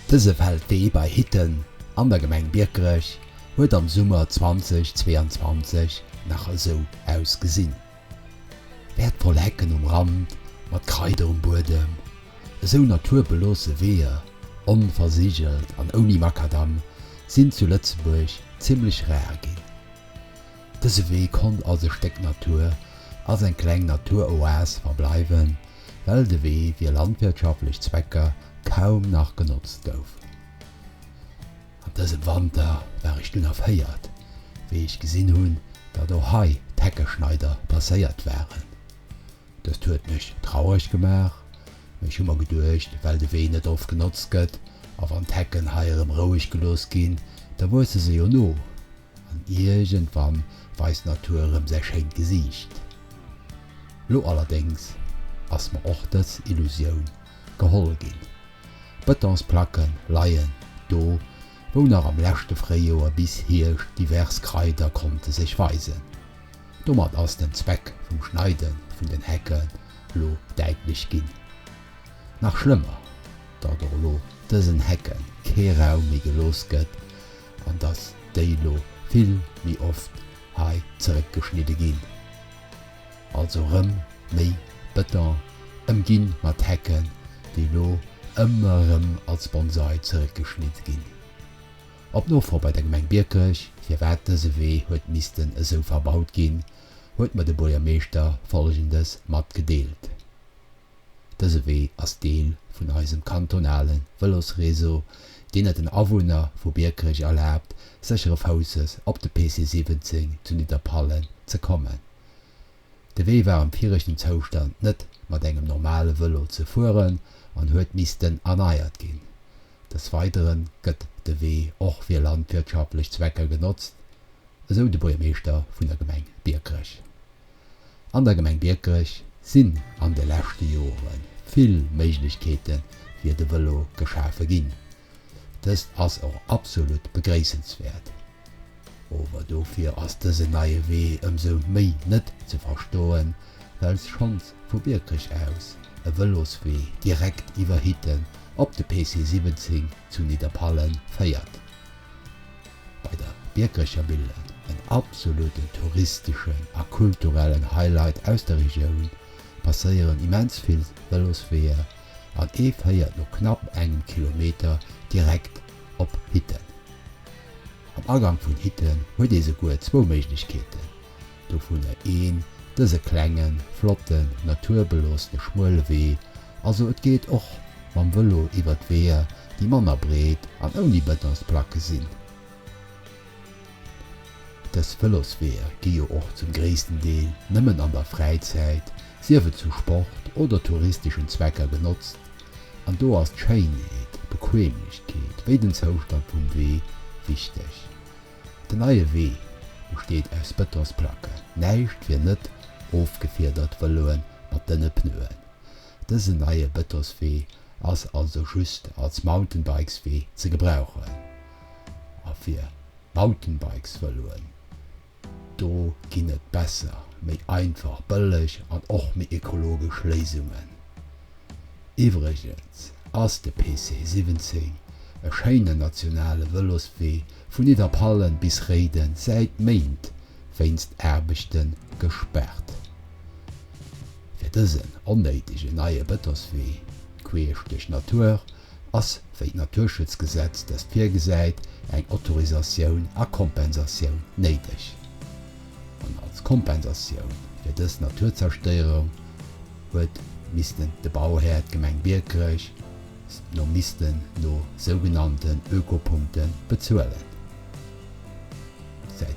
Dëse Feldwee bei Hitten an der Gemeng Biekerech huet am Summer 2022 nach esou ausgesinn. Wäertvoll Hecken um Rand mat Kraider um Buedem, esou naturbeloosse Weeër, onversigelt an ouni Makadamm, sinn zu Lëtzebuerg zimmlech rar ginn. Dëse Wee konnt als e Stéck Natur, als eng kleng Naturoas verbleiwen, well de Wee fir landwirtschaftlech Zwecker kaum nach genotzt gouf. An dësem Wanter war ech dunn erféiert, wéi ech gesinn hunn, datt och hei d'Heckeschneider passéiert waren. Dëst huet mech traureg gemaach, mee ech hu mer geduecht, well de Wee net oft genotzt gëtt a wann d'Hecken hei erëm roueg gelooss ginn, da wuesse se jo no. An iergendwann weist d'Natur erëm säi schéint Gesiicht. Lo allerdéngs ass mer och dës Illusioun geholl ginn. D'Bëtonsplacke leien do, wou nach am leschte Fréijoer bis Hierscht divers Kraider konnte sech weisen. Domat ass den Zweck vum Schneide vun den Hecke lo däitlech ginn. Nach schlëmmer, datt och lo dësen Hecke kee Raum méi gelooss gëtt, an dass déi lo vill méi oft hei zeréckgeschnidde ginn, also rëm méi Beton ëmginn mat Hecken, déi lo ëmmer rëm als Bonsai zeréckgeschnitt ginn. Op Nofro bei der Gemeng Biekerech, firwat dëse Wee huet missten esou verbaut ginn, huet mer de Buergermeeschter Folgendes matgedeelt. Dëse Wee ass Deel vun eisem kantonale Vëlosreseau, deen et den Awunner vu Biekerech erlaabt, séchere Fousses op de PC 17 zu Nidderpallen ze kommen. De Wee war am viregten Zoustand net mat engem normale Vëlo ze fueren an huet missten erneiert ginn. Des Weidere gëtt de Wee och fir landwirtschaftlech Zwecker genotzt, esou de Buergermeeschter vun der Gemeng Biekerech. An der Gemeng Biekerech sinn an de leschte Jore vill Méiglechkeete fir de Vëlo geschafe ginn. Dëst ass och absolut begréissenswäert. Ower dofir ass dësen neie Wee ëmsou méi net ze verstoen, well schonns vu Biekerech aus e Vëloswee direkt iwwer Hitten op de PC 17 zu Nidderpallen féiert. Bei der Biekercher Millen, en absoluten touristeschen a kulturellen Highlight aus der Regioun, passéieren immens vill Vëlosweeër an ee féiert no knapp engem Kilometer direkt op Hitten. Am Agang vun Hitten huet ee souguer zwou Méiglechkeeten. Dovunner een dëse klengen, flotten, naturbeloossene Schmuelewee. Also et geet och mam Vëlo iwwert Weeër, déi manner breet an ouni Betonsplacke sinn. Dës Vëlosweeër gi jo och zum gréissten Deel nëmmen an der Fräizäit, sief et zu Sport oder touristeschen Zwecker, genotzt. An do ass d'Schéinheet, d'Bequemlechkeet wéi den Zoustand vum Wee wichteg. Den neie Wee besteet aus Bëtonsplacken, näischt wier net ofgefiedert, Vëloen mat dënne Pneuen. Dësen neie Bëtoswee ass also just als Mountainbikeswee ze gebrauchen a fir Mountainbikesvëloen, do ginn et besser, méi einfach, bëlleg an och méi ekologesch Léisungen. Iwwregens ass de PC 17 e schéinen nationale Vëloswee vun Nidderpallen bis Réiden säit Méint wéinst Aarbechte gespaart. Fir dësen onnéidegen neie Bëtoswee queesch duerch d'Natur ass, wéi d'Naturschutzgesetz dëst virgesäit, eng Autorisatioun a Kompensatioun néideg. An als Kompensatioun fir dës Naturzerstéierung huet missten de Bauhär, d'Gemeng Biekerech, no missten no sougenannten Ökopunkte bezuelen. Säit.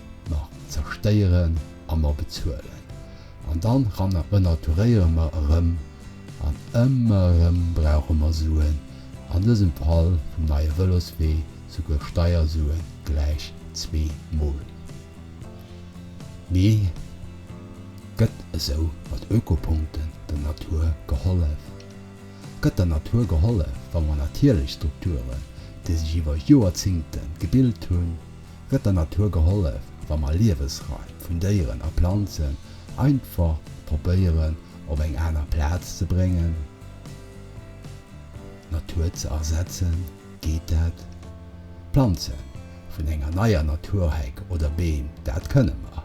Mer zerstéieren a mer bezuelen an dann renaturéiere mer erëm an ëmmer erëm brauche mer Suen, an dësem Fall vum neie Vëloswee souguer Steiersuen gläich zwee Mol. Mee gëtt esou mat Ökopunkten der Natur gehollef? Gëtt der Natur gehollef, wa mer natierlech Strukturen, déi sech iwwer Joerzingte gebilt hunn, Gëtt der Natur gehollef, wa mer Liewesraim vun Déieren a Planzen einfach probéieren op eng aner Plaz ze bréngen, d'Natur ze ersetzen? Geet dat? D'Planze vun enger neier Naturheck oder Beem, dat kënne mer.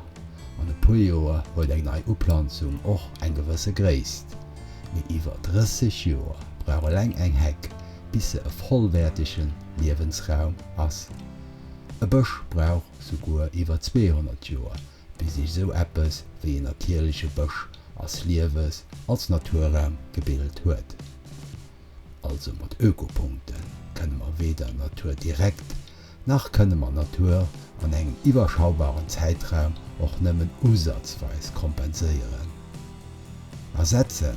An e puer Joer huet eng nei Uplanzung och eng gewësse Gréisst. Mee iwwer 30 Joer brauch eleng eng Heck, bis se e vollwäertege Liewensraum ass. E Bësch brauch souguer iwwer 200 Joer, bis sech esou eppes wéi en natierleche Bësch als Liewes als Naturraum gebilt huet. Also mat Ökopunkte kënne mer weder Natur direkt, nach kënne mer Natur an engem iwwerschaubaren Zäitraum och nëmmen usazweis kompenséieren. Ersetze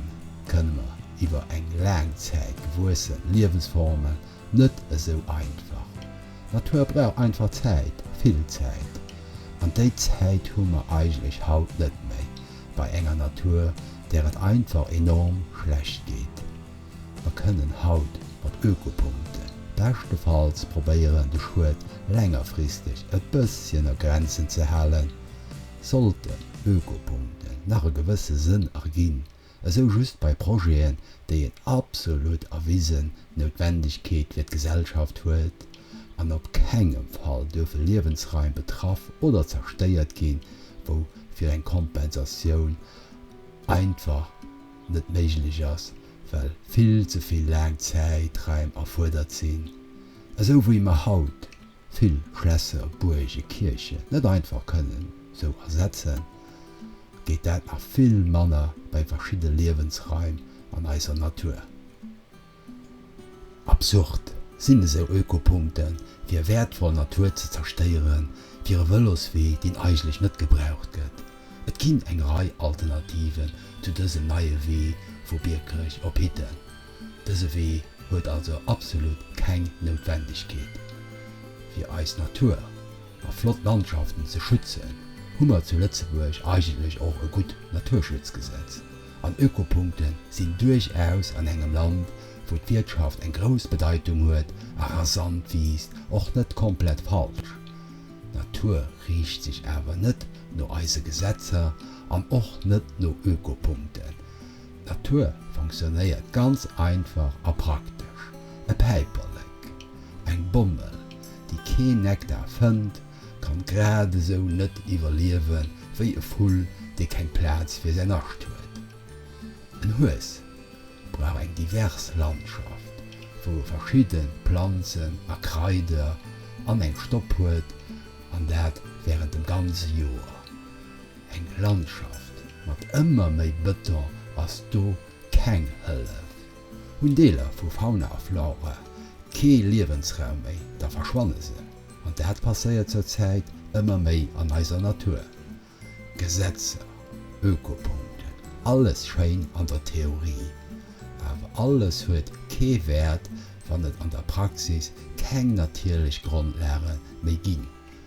kënne mer iwwer eng laang Zäit gewuesse Liewesformen Net esou einfach. D'Natur brauch einfach Zäit, vill Zäit. An déi Zäit hu mer eigentlech haut net méi, bei enger Natur, där et einfach enorm schlecht geet. Mer kënnen haut mat Ökopunkten beschtefalls probéieren, de Schued längerfristeg e bësschen a Grenzen ze halen. Sollten Ökopunkten nach e gewësse Sënn erginn, esou just bei Projeten, déi en absolut erwisen Noutwendegkeet fir d'Gesellschaft huet an op kengem Fall duerfe Liewensraim betraff oder zerstéiert ginn, wou fir eng Kompensatioun einfach net méiglech ass, well vill ze vill laang Zäitraim erfuerdert sinn, esou wéi mer haut Vill Schlässer, Buerge, Kierchen net einfach kënnen sou ersetzen, geet dat nach vill manner bei verschidde Liewensraim an eiser Natur. Absurd sinn esou Ökopunkten, fir wäertvoll Natur ze zerstéieren fir e Vëloswee, deen eigentlech net gebraucht gëtt. Et ginn eng Rei Alternativen zu dësem neie Wee vu Biekerech op Hitten. Dëse Wee huet also absolut keng Noutwendegkeet. Fir eis Natur a flott Landschaften ze schützen, hu mer zu Lëtzebuerg eigentlech och e gutt Naturschutzgesetz, an Ökopunkte sinn duerchaus an engem Land, wou d'Wirtschaft eng grouss Bedeitung huet a rasant wiisst, och net komplett falsch. D'Natur riicht sech awer net no eise Gesetzer an och net no Ökopunkten. D'Natur fonctionnéiert ganz einfach a praktesch, e Päiperlek, eng Bommel, déi keen Nektar fënnt, kann grad esou net iwwerliewe wéi e Vull, dee keng Plaz fir säin Nascht huet. En Hues brauch eng divers Landschaft, wou e verschidde Planzen a Kraider an eng Stopp huet, an dat wärend dem ganze Joer. Eng Landschaft mat ëmmer méi Bëton ass do keng Hëllef. Hunn Deeler vu Fauna a Flora kee Liewensraum méi, da verschwanne se. An dat passéiert zur Zäit ëmmer méi an eiser Natur. Gesetzer, Ökopunkten, alles schéin an der Theorie, awer alles huet kee Wäert, wann et an der Praxis keng natierlech Grondlage méi ginn.